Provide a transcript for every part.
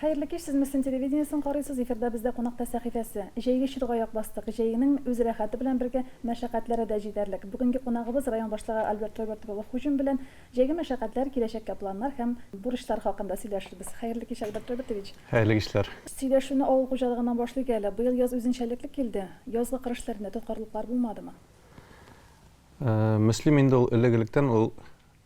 Хәерле кич, сез Мөслим телевидениесен карыйсыз, эфирда бездә кунакта сәхифәсе. Җәйге чорга аяк бастык. Җәйнең үз рәхәте белән бергә мәшәкатьләре дә җитәрлек. Бүгенге кунагыбыз район башлыгы Альберт Роберт улы Хуҗин белән җәйге мәшәкатьләр, киләчәккә планнар һәм бурычлар хакында сөйләшербез. Хәерле кич, Альберт Робертович! Хәерле кичләр! Сөйләшүне авыл хуҗалыгыннан башлыйк әле. Быел яз үзенчәлекле килде. Язгы кыр эшләрендә тоткарлыклар булмадымы? Э, Мөслим инде ул элек-электән ул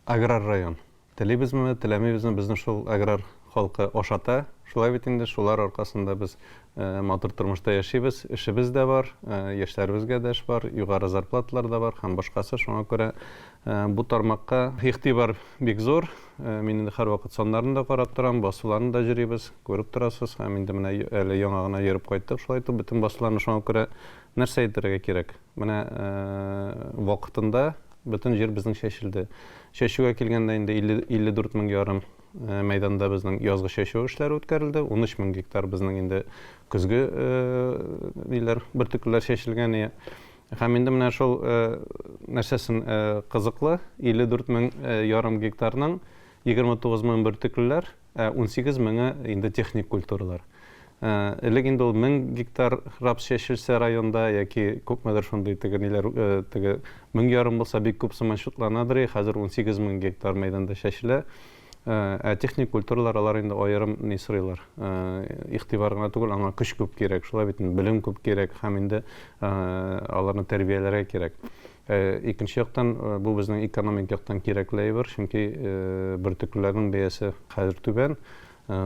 аграр район. Телибезме, теләмибезме, безне шул аграр халкы ашата. Шулай бит инде шулар аркасында без э, матур тормышта яшибез. Эшебез дә бар, э, яшьләребезгә дә эш бар, югары зарплаталар да бар һәм башкасы. Шуңа күрә бу тармакка игътибар бик зур. Мин инде һәрвакыт саннарын да карап торам, басуларны да җөрибез, күреп торасыз. Һәм инде менә әле яңа гына йөреп кайттык, шулай итеп бөтен басуларны шуңа күрә нәрсә әйтергә кирәк? Менә вакытында бөтен җир безнең чәчелде. Чәчүгә килгәндә инде 54 мең ярым мәйданда безнең язгы чәчү эшләре үткәрелде. 13 мең гектар безнең инде көзге ниләр, бөртеклеләр чәчелгән. Һәм инде менә шул нәрсәсен кызыклы, 54 мең ярым гектарның 29 мең бөртеклеләр, Ә унсигез меңе инде техник культуралар. Элек инде ул мең гектар рапс чәчелсә районда яки күпмедер шундый теге ниләр теге мең ярым булса бик күп сыман чутланадыр и хәзер унсигез мең гектар мәйданда чәчелә. Ә техник культуралар алар инде аерым ни сорыйлар. Игътибар гына түгел, аңа көч күп кирәк. Шулай бит инде, белем күп кирәк һәм инде аларны тәрбияләргә кирәк. Ә икенче яктан, бу безнең экономик яктан кирәкле әйбер, чөнки бөртеклеләрнең бәясе хәзер түбән,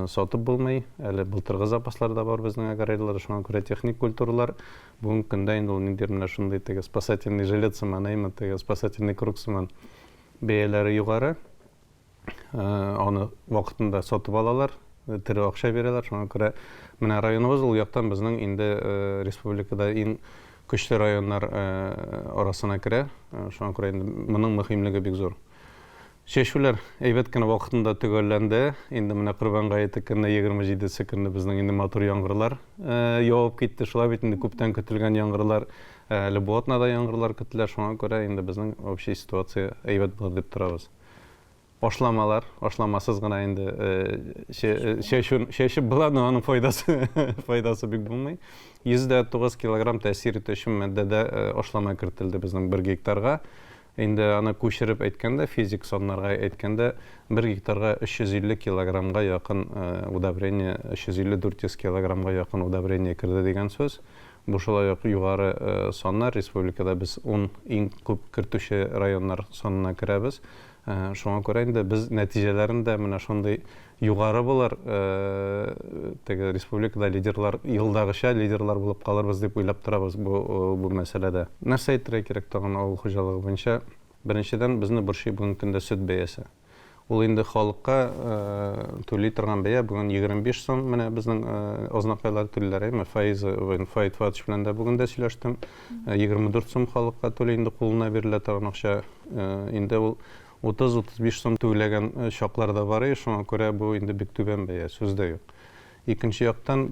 сатып булмый. Әле былтыргы запаслар да бар безнең аграрийларда, шуңа күрә техник культуралар бүгенге көндә инде ул ниндидер менә шундый теге спасательный жилет сыман, әйме, теге спасательный круг сыман бәяләре югары. аны вакытында сатып алалар, тере акча бирәләр. Шуңа күрә менә районыбыз ул яктан безнең инде республикада иң көчле районнар арасына керә. Шуңа күрә инде моның мөһимлеге бик зур. Чәчүләр әйбәт кенә вакытында төгәлләнде. Инде менә Корбан гаете көнне, 27-се көнне безнең инде матур яңгырлар явып китте. Шулай бит инде күптән көтелгән яңгырлар, әле бу атнада яңгырлар көтелә. Шуңа күрә инде безнең общий ситуация әйбәт булыр дип торабыз. Ашламалар, ашламасыз гына инде чәчү була, но аның файдасы бик булмый. %9 килограмм тәэсир итү өчен матдәдә ашлама кертелде безнең бер гектарга. Инде аны күчереп әйткәндә, физик саннарга әйткәндә, бер гектарга 350 килограммга якын удобрение, 350-400 килограммга якын удобрение керде дигән сүз. Бу шулай ук югары саннар, республикада без ун иң күп кертүче районнар санына керәбез. Шуңа күрә инде без нәтиҗәләрен дә менә шундый югары булыр, теге республикада лидерлар, елдагыча лидерлар булып калырбыз дип уйлап торабыз бу бу мәсьәләдә. Нәрсә әйтергә кирәк тагын авыл хуҗалыгы буенча? Беренчедән, безне борчый бүгенге көндә сөт бәясе. Ул инде халыкка түли торган бәя, бүген 25 сум, менә безнең Азнакайлар түлиләр, әйеме, Фаиза, Фаид Фатович белән дә бүген дә сөйләштем. 24 сум халыкка түли инде кулына бирелә торган акча. Инде ул 30-35 сум түләгән чаклар да бар иде, шуңа күрә бу инде бик түбән бәя, сүз дә юк. Икенче яктан,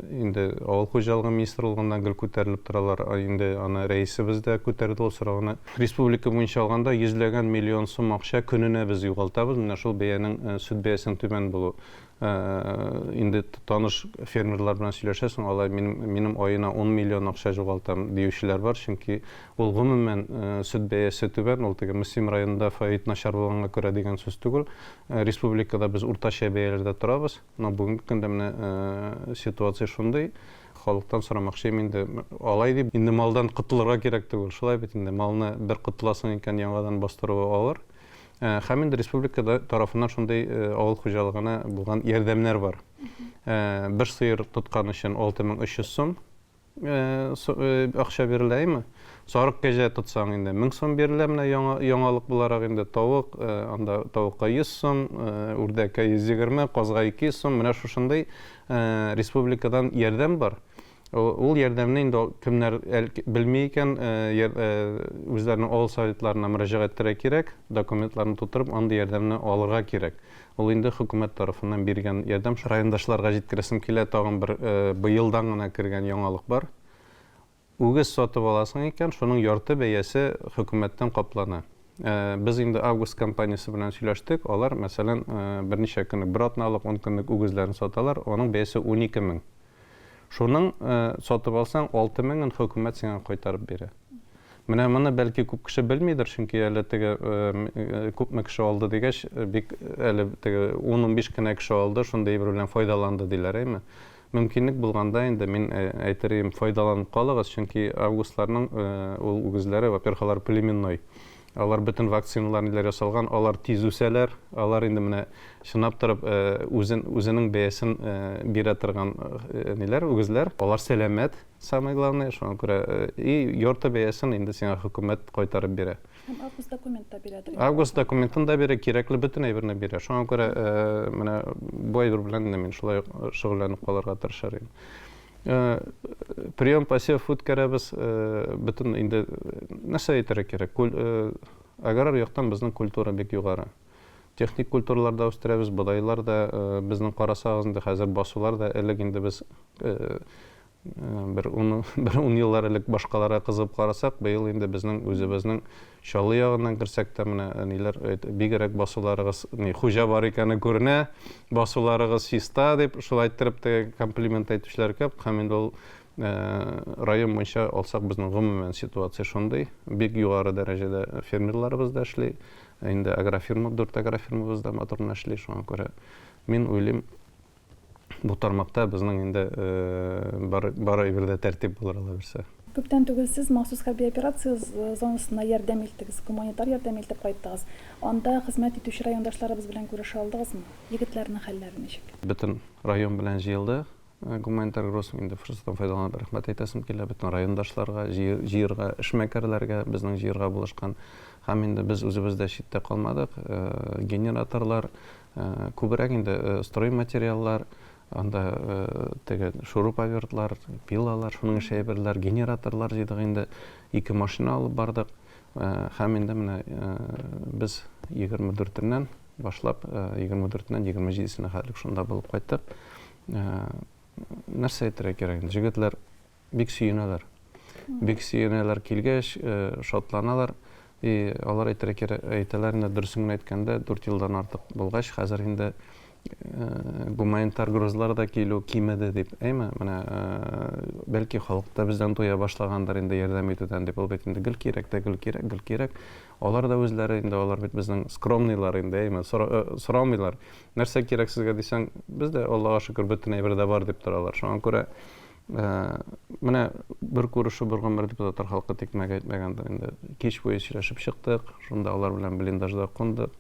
инде авыл хуҗалыгы министрлыгыннан гел күтәрелеп торалар. Инде аны рәисебез дә күтәрде ул сорауны. Республика буенча алганда, йөзләгән миллион сум акча көненә без югалтабыз, менә шул бәянең, сөт бәясенең түбән булуы. Инде таныш фермерлар белән сөйләшәсең, алай, минем, минем аена ун миллион акча җугалтам, диючеләр бар, чөнки ул гомумән сөт бәясе түбән, ул теге Мөслим районында фаит начар булганга күрә дигән сүз түгел, Республикада без уртача бәяләрдә торабыз, но бүгенге көндә менә ситуация шундый, халыктан сорамакчыйм инде, алай дип инде малдан котылырга кирәк түгел, шулай бит инде, малны бер котыласың икән, яңадан бастыруы авыр. Һәм инде республикада тарафыннан шундый авыл хуҗалыгына булган ярдәмнәр бар. Бер сыер тоткан өчен 6300 сум. акча бирелә име? Сарык кәҗә тотсаң инде 1000 сум бирелә, менә яңа яңалык буларак инде тавык, анда тавыкка 100 сум, үрдәккә 120, казга 200 сум, менә шушындый республикадан ярдәм бар. Ул ярдәмне инде кемнәр белми икән, үзләренең авыл советларына мөрәҗәгать итәргә кирәк, документларны тутырып, андый ярдәмне алырга кирәк. Ул инде хөкүмәт тарафыннан биргән ярдәм. Райондашларга җиткерәсем килә, тагын бер быелдан гына кергән яңалык бар. Үгез сатып аласың икән, шуның ярты бәясе хөкүмәттән каплана. Без инде Август компаниясе белән сөйләштек, алар, мәсәлән, берничә көнлек, бер атналык, ун көнлек үгезләрен саталар, аның бәясе унике мең. Шуның сатып алсаң, алты меңен хөкүмәт сиңа кайтарып бирә. Менә моны бәлки күп кеше белмидер, чөнки әле теге күпме кеше алды дигәч, бик әле теге 10-15 кенә кеше алды, шундый әйбер белән файдаланды диләр, әйме? Мөмкинлек булганда инде мин әйтер идем, файдаланып калыгыз, чөнки августларның ул үгезләре, во-первых, алар племенной. Алар бөтен вакциналар ниләр ясалган, алар тиз үсәләр, алар инде менә чынлап торып үзен үзенең бәясен бирә торган ниләр үгезләр. Алар сәламәт, самое главное, шуңа күрә и йорты бәясен инде сиңа хөкүмәт кайтарып бирә. Һәм август документ та бирә торган. Август документын да бирә, кирәкле бөтен әйберне бирә. Шуңа күрә менә бу әйбер белән мин шулай шөгыльләнеп калырга тырышыр идем. Э, прием посев үткәрәбез э, бөтен инде э, нәрсә әйтергә кирәк аграр яктан безнең культура бик югары техник культуралар да үстерәбез бодайлар да безнең карасагыз инде хәзер басулар да элек инде без бер ун бер ун еллар элек башкаларга кызып карасак быел инде безнең үзебезнең Чаллы ягыннан керсәк тә, менә әниләр бигрәк басуларыгыз, ни, хуҗа бар икәне күренә, басуларыгыз чиста, дип, шулай иттереп тә комплимент әйтүчеләр күп. Һәм инде ул район буенча алсак, безнең гомумән ситуация шундый. Бик югары дәрәҗәдә фермерларыбыз да эшли. Инде агрофирма, дүрт агрофирмабыз да матур гына эшли. Шуңа күрә мин уйлыйм, Бу тармакта безнең инде бары бер дә тәртип булыр ала бирсә. Күптән түгел сез махсус хәрби операция зонасына ярдәм илттегез, гуманитар ярдәм илтеп кайттыгыз. Анда хезмәт итүче райондашларыбыз белән күрешә алдыгызмы? Егетләрнең хәлләре ничек? Бөтен район белән җыелды гуманитар груз. Инде форсаттан файдаланып рәхмәт әйтәсем килә бөтен райондашларга, җыерга, эшмәкәрләргә, безнең җыерга булышкан. Һәм инде без үзебез дә читтә калмадык. Генераторлар, Күбрәк инде строй материаллар, анда теге шуруповертлар, пилалар, шуның ише әйберләр, генераторлар җыйдык инде. Ике машина алып бардык. Һәм инде менә без 24-ннән башлап, 24-ннән 27-сенә хәтлек шунда булып кайттык. Нәрсә әйтергә кирәк инде, җегетләр бик сөенәләр. Бик сөенәләр килгәч, шатланалар. И алар әйтергә кирәк, әйтәләр инде дөресен генә әйткәндә, 4 елдан артык булгач, хәзер инде гуманитар грузлар да килү кимеде дип, әйме, менә бәлки халык та бездән туя башлагандыр инде ярдәм итүдән дип, ул бит инде гел кирәк тә, гел кирәк, гел кирәк. Алар да үзләре инде, алар бит безнең скромныйлар инде, әйме, сорамыйлар. Нәрсә кирәк сезгә дисәң, бездә, Аллага шөкер, бөтен әйбер дә бар дип торалар. Шуңа күрә Ә, менә бер күрешү бер гомер дип татар халкы тикмәгә әйтмәгәндер инде. Кич буе сөйләшеп чыктык, шунда алар белән блиндажда кундык.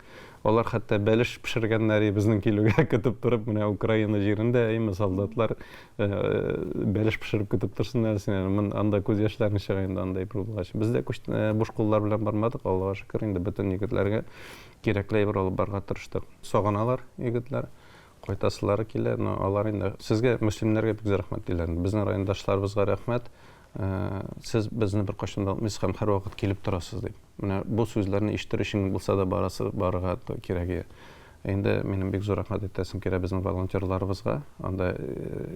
Алар хәтта бәлеш пешергәннәр, безнең килүгә көтеп торып, менә Украина җирендә, әйме, солдатлар ә, бәлеш пешереп көтеп торсыннар сине. Мин анда күз яшьләрен чыга инде андай бер булгач. Без дә күч, ә, буш куллар белән бармадык, Аллага шөкер, инде бөтен егетләргә кирәкле әйбер алып барырга тырыштык. Сагыналар егетләр. Кайтасылары килә, но алар инде сезгә мөслимнәргә бик зур рәхмәт диләр инде. Безнең райондашларыбызга рәхмәт, сез безне беркайчан да онытмыйсыз һәм һәрвакыт килеп торасыз дип. Менә бу сүзләрне ишетер өчен булса да барасы барырга кирәк иде. Инде минем бик зур рәхмәт әйтәсем килә безнең волонтерларыбызга. Анда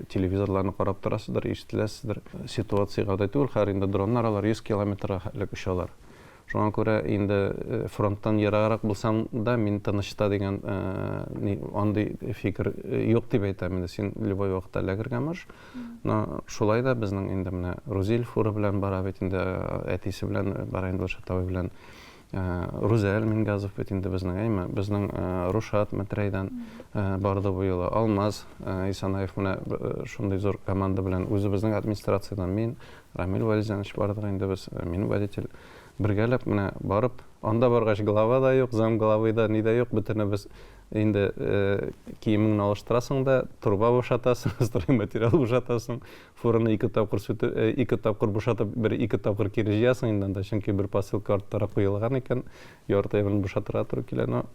телевизорларны карап торасыздыр, ишетеләсездер. Ситуация гади түгел, хәер инде дроннар алар 100 километрга элек очалар. Шуңа күрә инде фронттан ераграк булсаң да, мин тыныч та дигән андый фикер юк дип әйтәм инде. Син любой вакытта лагерьга марш. Но шулай да безнең инде менә Рузил фура белән бара бит инде, әтисе белән бара инде ул чатовой белән. Рузәл Мингазов бит инде безнең, әйме? Безнең Рушат Мәтрәйдән барды бу юлы. Алмаз Исанаев менә шундый зур команда белән, үзебезнең администрациядән мин, Рамил Вәлизанович бардык инде без, мин водитель. Бергәләп менә барып, анда баргач глава да юк, зам главы да, ни дә юк, бөтенебез инде э, киемеңне алыштырасың да, труба бушатасың, стройматериал бушатасың, фураны ике тапкыр сүтү, э, ике тапкыр бушатып, бер ике тапкыр кире җыясың инде анда, чөнки бер посылка арттара куелган икән, ярты әйберне бушатырга туры килә, но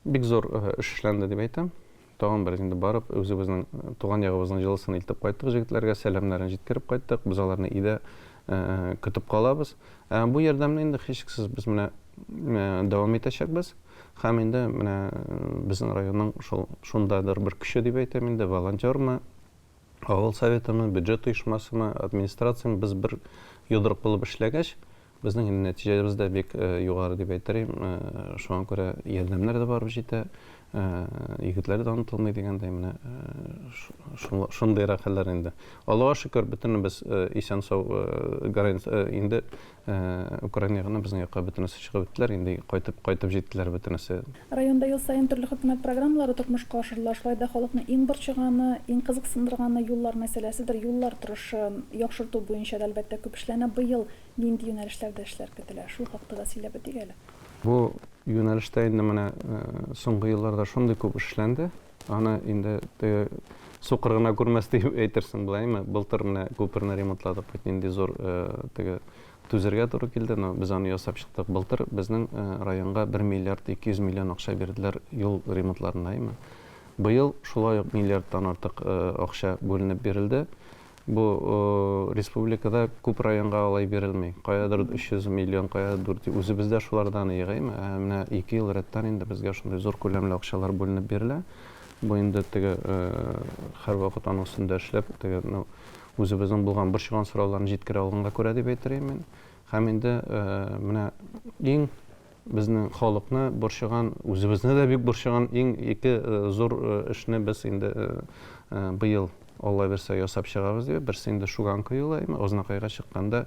Бик зур эш эшләнде дип әйтәм. Тагын бер инде барып, үзебезнең туган ягыбызның җылысын илтеп кайттык, җегетләргә сәламнәрен җиткереп кайттык. Без аларны өйдә көтеп калабыз. Бу ярдәмне инде һичшиксез без менә дәвам итәчәкбез. Һәм инде менә безнең районның шул шундадыр бер көче дип әйтәм инде, волонтермы, авыл советымы, бюджет оешмасымы, администрацияме без бер йодрык булып эшләгәч, безнең инде нәтиҗәбез дә бик югары дип әйтерим. Шуңа күрә ярдәмнәр дә барып җитә. Егетләр дә онытылмый дигәндәй, менә шундыйрак хәлләр инде. Аллага шөкер, бөтенебез исән-сау, инде Украина ягыннан безнең якка бөтенесе чыгып беттеләр, инде кайтып, кайтып җиттеләр бөтенесе. Районда ел саен төрле хөкүмәт программалары тормышка ашырыла. Шулай да халыкны иң борчыганы, иң кызыксындырганы юллар мәсьәләседер. Юллар торышын яхшырту буенча да, әлбәттә, күп эшләнә. Быел нинди юнәлешләрдә эшләр көтелә? Шул хакта да сөйләп үтик әле. Бу юнәлештә инде менә соңгы елларда шундый күп эш эшләнде. Аны инде теге сукыр гына күрмәс дип әйтерсең беләйме. Былтыр менә күперне ремонтладык, бит нинди зур теге түзергә туры килде, но без аны ясап чыктык. Былтыр безнең районга 1 миллиард 200 миллион акча бирделәр юл ремонтларына, әйме. Быел шулай ук миллиардтан артык акча бүленеп бирелде. Бу республикада күп районга алай бирелми. Каядыр 300 миллион, каядыр 400. Үзебез дә шулардан егыйм. Ә менә ике ел рәттән инде безгә шундый зур күләмле акчалар бүленеп бирелә. Бу инде теге һәрвакыт аның өстендә эшләп, теге үзебезнең булган борчыган сорауларны җиткерә алганга күрә дип әйтер идем мин. Һәм инде менә иң Безнең халыкны борчыган, үзебезне дә бик борчыган иң ике зур эшне без инде быел, Алла бирсә, ясап чыгабыз дип. Берсе инде Шуганка юлаемы. Азнакайга чыкканда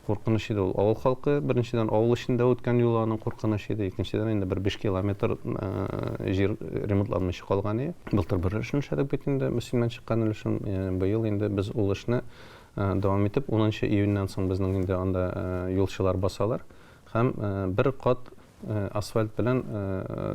куркыныч иде ул. Авыл халкы, беренчедән, авыл эчендә үткән юл аның куркыныч иде. Икенчедән, инде бер биш километр җир ремонтланмыйча калган иде. Былтыр бер өлешен эшләдек бит инде, Мөслимнән чыккан өлешен. Быел инде без ул эшне дәвам итеп, унынчы июньнән соң безнең инде анда юлчылар басалар. Һәм бер кат асфальт белән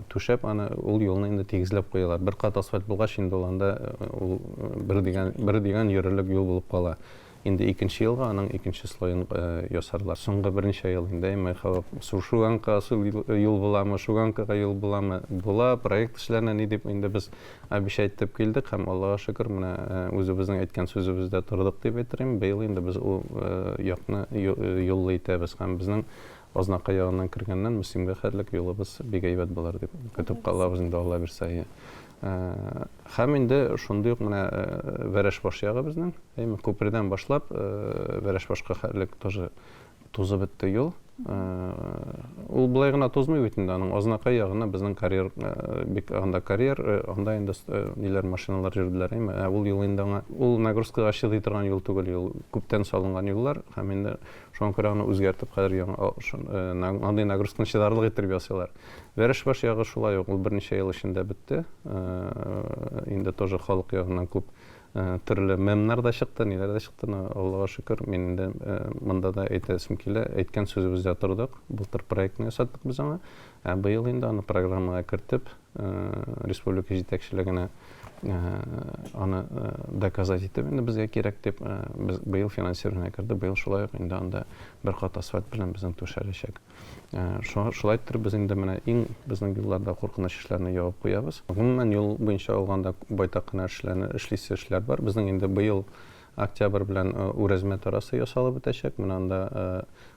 түшәп, аны ул юлны инде тигезләп куялар. Бер кат асфальт булгач, инде ул анда ул бер дигән, бер дигән йөрерлек юл булып кала. Инде икенче елга аның икенче слоен ясарлар. Соңгы берничә ел инде әйме халык су шуганка асыл юл буламы, шуганкага юл буламы, була, проект эшләнә, ни дип инде без Обещать итеп килдек һәм, Аллага шөкер, менә үзебезнең әйткән сүзебездә тордык дип әйтерем. Быел инде без ул якны юллы итәбез һәм безнең Азнакай ягыннан кергәннән Мөслимгә хәтлек юлыбыз бик әйбәт булыр дип көтеп калабыз инде, Алла бирсә. Һәм инде шундый ук менә Вәрәшбаш ягы безнең, әйме, күпердән башлап, Вәрәшбашка хәтлек тоже Тузып бетте юл. Ул былай гына тузмый бит инде, аның азнакай ягына безнең карьер, бик анда карьер, анда инде ниләр машиналар йөрделәр, әйме. Ә ул юл инде аңа, ул нагрузкага чыдый торган юл түгел, юл күптән салынган юллар һәм инде шуңа күрә аны үзгәртеп хәзер яңа андый нагрузканы чыдарлык иттереп ясыйлар. Вәрәшбаш ягы шулай ук, ул берничә ел эчендә бетте. Инде тоже халык ягыннан күп Э, төрле мемнар да чыкты, ниләр дә чыкты, но Аллага шөкер, мин инде э, монда да әйтәсем килә, әйткән сүзебездә тордык. Былтыр проектны ясаттык без аңа. Ә быел инде аны программага кертеп, э, республика җитәкчелегенә аны доказать итеп инде безгә кирәк дип без быел финансирование керде. Быел шулай ук инде анда бер кат асфальт белән безнең түшәләчәк. Э, шулайдыр без инде менә иң безнең юлларда куркыныч эшләрне ябып куябыз гомумән юл буенча алганда байтак кына эшләрне эшлисе эшләр бар безнең инде быел октябрь белән э, үрәзмә тарасы ясалып бетәчәк менә анда э,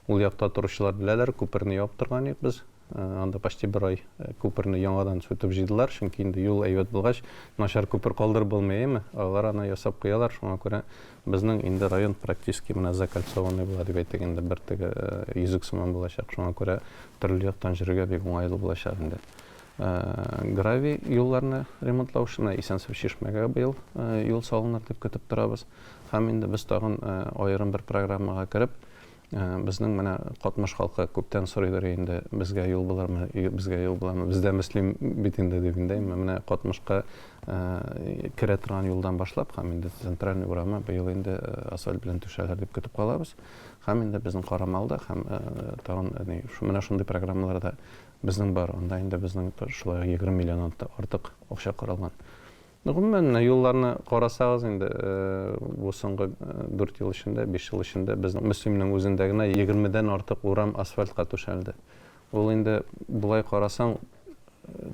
ул якта торучылар беләләр күперне ябып торган идек без анда почти бер ай күперне яңадан сүтеп җыйдылар чөнки инде юл әйбәт булгач начар күпер калдырып булмый әйеме алар аны ясап куялар шуңа күрә Безнең инде район практически менә закольцованный була дип әйтик инде, бер теге йөзек сыман булачак, шуңа күрә төрле яктан йөрергә бик уңайлы булачак инде. Гравий юлларны ремонтлау эшенә Исәнсу Чишмәгә быел юл салыныр дип көтеп торабыз. Һәм инде без тагын аерым бер программага кереп, Ә, безнең менә катмыш халкы күптән сорыйдыр инде, безгә юл булырмы, безгә юл буламы? Бездә мөслим бит инде дип инде. Менә катмышка ә, керә торган юлдан башлап, һәм инде центральный урамы быел инде ә, асфальт белән түшәләр дип көтеп калабыз. Һәм инде безнең карамалда һәм ә, тагын әни, шу, менә шундый программаларда безнең бар. Анда инде безнең шулай 20 миллионнан артык акча каралган. Гомумән, юлларны карасагыз инде, бу соңгы дүрт ел эчендә, биш ел эчендә безнең Мөслимнең үзендә генә егермедән артык урам асфальтка түшәлде. Ул инде болай карасаң,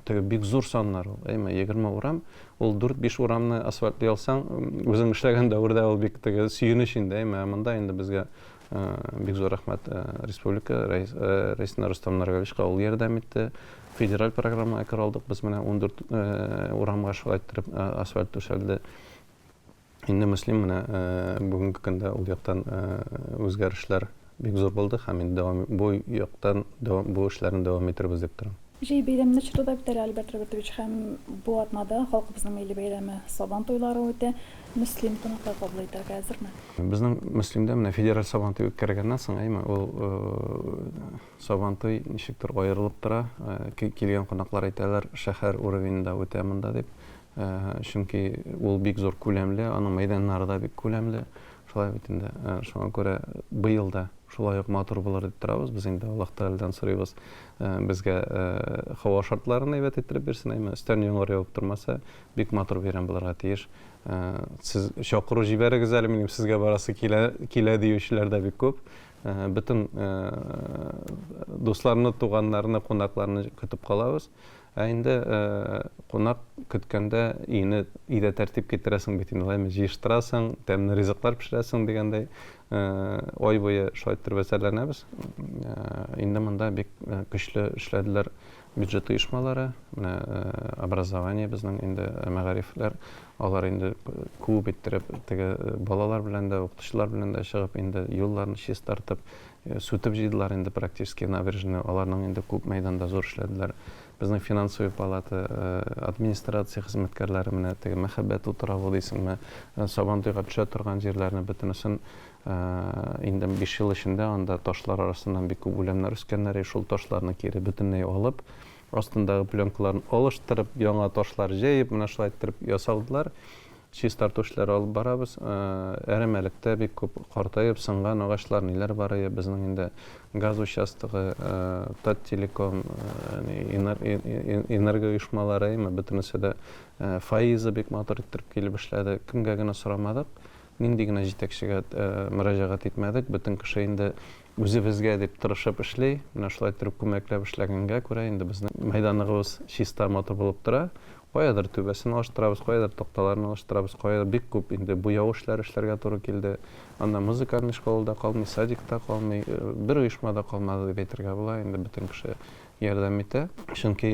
теге бик зур саннар ул, әйме? Егерме урам, ул дүрт-биш урамны асфальтлый алсаң, үзең эшләгән дәвердә ул бик теге сөенеч инде, әйме? Ә монда инде безгә бик зур рәхмәт республика рәисенә Рустам Наргалевичка ул ярдәм итте. Федераль программага керә алдык. Без менә 14 урамга шулай иттереп асфальт түшәлде. Инде Мөслим менә бүгенге көндә ул яктан үзгәрешләр бик зур булды һәм инде дәвам бу яктан бу эшләрне дәвам иттербез дип торам. Җәй бәйрәмне чоры да бетәр, Альберт Робертович, һәм бу атнада халкыбызның милли бәйрәме, Сабан туйлары үтә. Мөслим кунаклар кабул итәргә әзерме? Безнең Мөслимдә менә федераль Сабантуй үткәргәннән соң, әйме, ул Сабантуй ничектер аерылып тора. Килгән кунаклар әйтәләр, шәһәр уровеньда үтә монда дип. Чөнки ул бик зур күләмле, аның мәйданнары да бик күләмле. Шулай бит инде. Шуңа күрә быел да шулай ук матур булыр дип торабыз. Без инде Аллаһ Тәгаләдән сорыйбыз, Безгә һава шартларын әйбәт иттереп бирсен, әмма өстән яңгыр явып тормаса, бик матур бәйрәм булырга тиеш. Сез чакыру җибәрегез әле, минем сезгә барасы килә, килә диючеләр дә бик күп. Бөтен дусларны, туганнарны, кунакларны көтеп калабыз. Ә инде кунак көткәндә өйне, өйдә тәртип китерәсең бит инде, җыештырасың, тәмле ризыклар пешерәсең дигәндәй, Ай буе шулай иттереп әзерләнәбез. Инде монда бик көчле эшләделәр бюджет оешмалары, менә образование безнең инде мәгарифләр, алар инде күп иттереп теге балалар белән дә, укытучылар белән дә чыгып инде юлларны чистартып, сүтеп җыйдылар инде практически набережный, аларның инде күп мәйданда зур эшләделәр. Безнең финансовый палата администрация хезмәткәрләре менә теге мәхәббәт утравы дисеңме, сабантуйга төшә торган җирләрне бөтенесен инде биш ел эчендә анда ташлар арасыннан бик күп үләннәр үскәннәр, шул ташларны кире бөтенләй алып, астындагы пленкаларын алыштырып, яңа ташлар җәеп, менә шулай иттереп ясадылар. Чистарту эшләре алып барабыз. Әрәмәлектә бик күп картаеп, сынган агачлар, ниләр бар иде. Безнең инде газ участогы, Таттелеком, энергооешмалары, әйме, бөтенесе дә, Фаиза бик матур иттереп килеп эшләде. Кемгә генә сорамадык, нинди генә җитәкчегә мөрәҗәгать итмәдек, бөтен кеше инде Үзебезгә дип тырышып эшли. Менә шулай иттереп күмәкләп эшләгәнгә күрә, инде безнең мәйданныгыбыз чиста, матур булып тора. Каядыр түбәсен алыштырабыз, каядыр такталарын алыштырабыз, каядыр бик күп инде буяу эшләре эшләргә туры килде. Анда музыкальный школа да калмый, садик та калмый, бер оешма да калмады дип әйтергә була, инде бөтен кеше ярдәм итә. Чөнки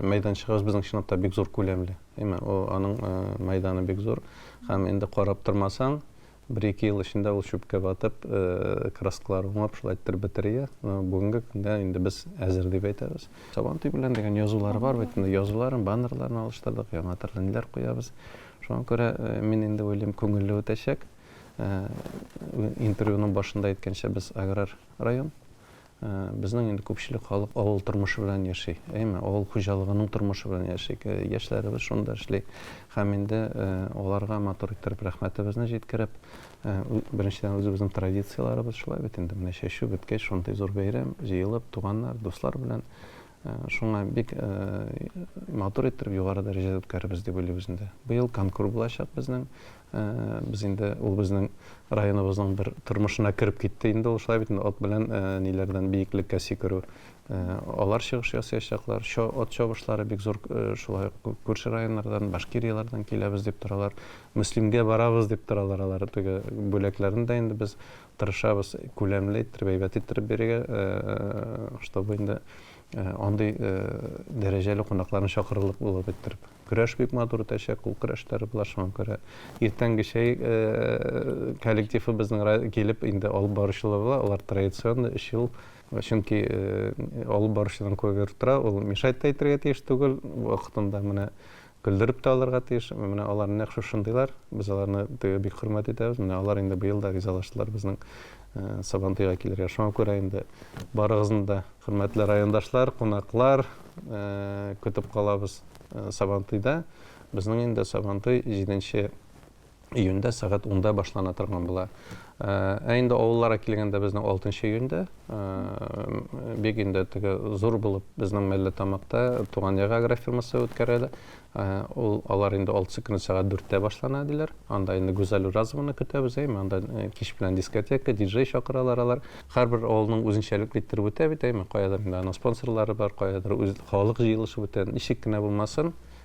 мәйданчыгыбыз безнең чынлап та бик зур күләмле. Әйме, аның мәйданы бик зур. Һәм инде карап тормасаң, Бер-ике ел эчендә ул чүпкә батып, краскалар уңып, шулай иттереп бетерия. Бүгенге көнгә инде без әзер дип әйтәбез. Сабантуй белән дигән язулары бар бит инде. Язуларын, баннерларын алыштырдык, яңа төрле ниләр куябыз. Шуңа күрә мин инде уйлыйм, күңелле үтәчәк. Интервьюның башында әйткәнчә, без аграр район. Безнең инде күпчелек халык авыл тормышы белән яши. Әйме, авыл хуҗалыгының тормышы белән яши. Яшьләребез шунда эшли. Һәм инде аларга матур иттереп рәхмәтебезне җиткереп, беренчедән үзебезнең традицияләребез шулай бит инде. Менә чәчү беткәч, шундый зур бәйрәм, җыелып, туганнар, дуслар белән Шуңа бик матур иттереп, югары дәрәҗәдә үткәрербез дип уйлыйбыз инде. Быел конкур булачак безнең. Без инде ул безнең районыбызның бер тормышына кереп китте инде ул. Шулай бит инде, ат белән ниләрдән биеклеккә сикерү. Алар чыгыш ясыячаклар. Чо, ат чабышлары бик зур, шулай ук күрше районнардан, Башкирияләрдән киләбез дип торалар. Мөслимгә барабыз дип торалар алар. Теге бүләкләрне дә инде без тырышабыз күләмле иттереп, әйбәт иттереп бирергә, чтобы инде андый дәрәҗәле кунакларны чакырырлык булып иттереп. Көрәш бик матур үтәчәк, кул көрәшләре була, шуңа күрә иртәнге чәй коллективы безнең килеп инде алып баручылар була, алар традиционный өч ел. Чөнки алып баручыларның күбе тора, ул мешать та итәргә тиеш түгел, вакытында менә Көлдереп тә алырга тиеш. Менә алар нәкъ шушындыйлар. Без аларны теге бик хөрмәт итәбез. Менә алар инде быел да ризалаштылар безнең Сабантуйга килергә. Шуңа күрә инде барыгызны да, хөрмәтле райондашлар, кунаклар, көтеп калабыз Сабантуйда. Безнең инде Сабантуй җиденче июньдә сәгать унда башлана торган була. Ә инде авылларга килгәндә безнең 6 июньдә бик инде теге зур булып безнең мәллә тамакта туган як агрофирмасы үткәрәләр. Ул алар инде 6 көн сәгать 4тә башлана диләр. Анда инде Гүзәл Уразованы көтәбез, әйме, анда кич белән дискотека, диджей чакыралар алар. Һәрбер авылның үзенчәлекле иттереп үтә бит, әйме, каядыр инде аның спонсорлары бар, каядыр үз халык җыелышы үтә. Ничек кенә булмасын,